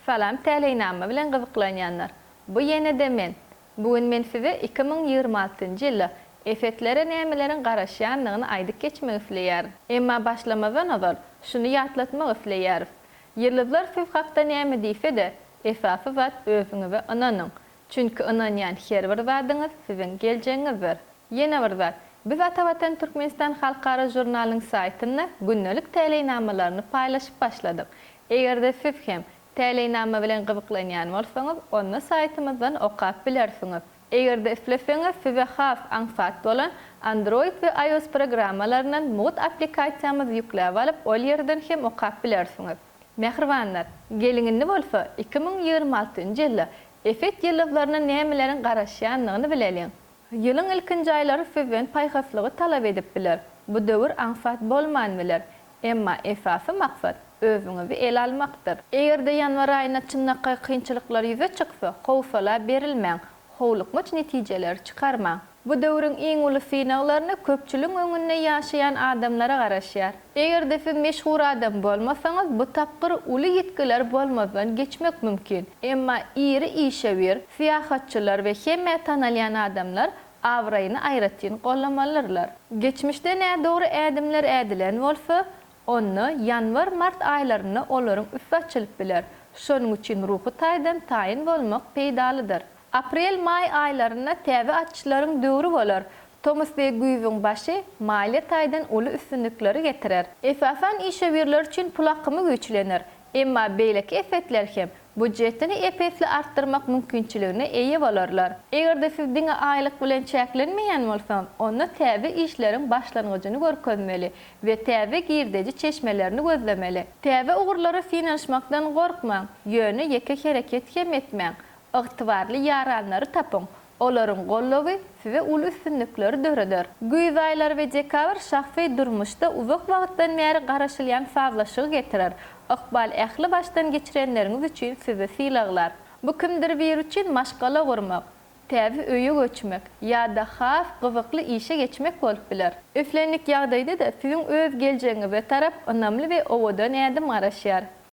Salam Täleýnama bilen gyzyklanýanlar bu ýenede men bu gün men size iki müň ýigrimi altynjy ýylda Efetlere nämeleriň garaşýandygyny aýdyp geçmek isleýärin emma başlamazdan ozal şuny ýatlatmak isleýäris ýyldyzlar siz hakda näme diýsede esasy zat özüňize ynanyň çünki ynanýan her bir zadyňyz siziň geljegiňizdir ýene bir zat biz Atavatan Türkmenistan halkara žurnalynyň saýtynda gündelik täleýnamalaryny paýlaşyp başladyk Eger-de siz hem täleýnama bilen gyzyklanýan bolsaňyz, onda saýtymyzdan okap bilersiňiz. Eger-de isleseňiz, size has aňsat bolan Android we iOS programmalaryndan mugt applikasiýamyzy ýükläp alyp, ol ýerden hem okap bilersiňiz. Mähribanlar, geliň indi bolsa iki müň ýigrimi altynjy ýylda Efet ýyldyzlaryna nämeleriň garaşýandygyny bileliň. Ýylyň ilkinji aýlary sizden paýhaslygy talap edip biler. Bu döwür aňsat bolman biler. Emma esasy maksat, özüňizi ele almakdyr. Eger-de ýanwar aýynda çynlakaý kynçylyklar ýüze çyksa, howsala berilmäň, howlukmaç netijeleri çykarmaň. Bu döwrüň iň uly synaglaryny köpçüligiň öňünde ýaşaýan adamlara garaşýar. Eger-de siz meşhur adam bolmasaňyz, bu tapgyr uly ýitgiler bolmazdan geçmek mümkin. Emma iri işewür, syýahatçylar we hemmä tanalýan adamlar abraýyny aýratyn gollamalyrlar. Geçmişde nädogry ädimler ädilen bolsa, onda ýanwar-mart aýlarynda olaryň üsti açylyp biler. Şonuň üçin ruhy taýdan taýyn bolmak peýdalydyr. Aprel-maý aýlarynda täze açyşlaryň döwri bolar. Tomus we güýzüň başy maliýe taýdan uly üstünlikleri getirer. Esasan işewürler üçin pul akymy güýçlenir. Emma beýleki esetler hem budjetini ep-esli artdyrmak mümkinçiligine eýe bolarlar. Eger-de siz diňe aýlyk bilen çäklenmeýän bolsaňyz, onda täze işleriň başlangyjyny görkezmeli we täze girdeji çeşmelerini gözlemeli. Täze ugurlara synanyşmakdan gorkmaň, ýöne ýeke hereket hem etmäň. Ygtybarly ýaranlary tapyň, olaryň goldawy size uly üstünlikleri döreder. Güýz aýlary we dekabr şahsy durmuşda uzak wagtdan bäri garaşylýan sazlaşygy getirer. Ykbal ähli başdan geçirenleriňiz üçin sizi sylaglar. Bu kimdir biri üçin maşgala gurmak, täze öýe göçmek ýa-da has gyzykly işe geçmek bolup biler. Islendik ýagdaýda-da siziň öz geljegiňize tarap ynamly we owadan ädim garaşýar.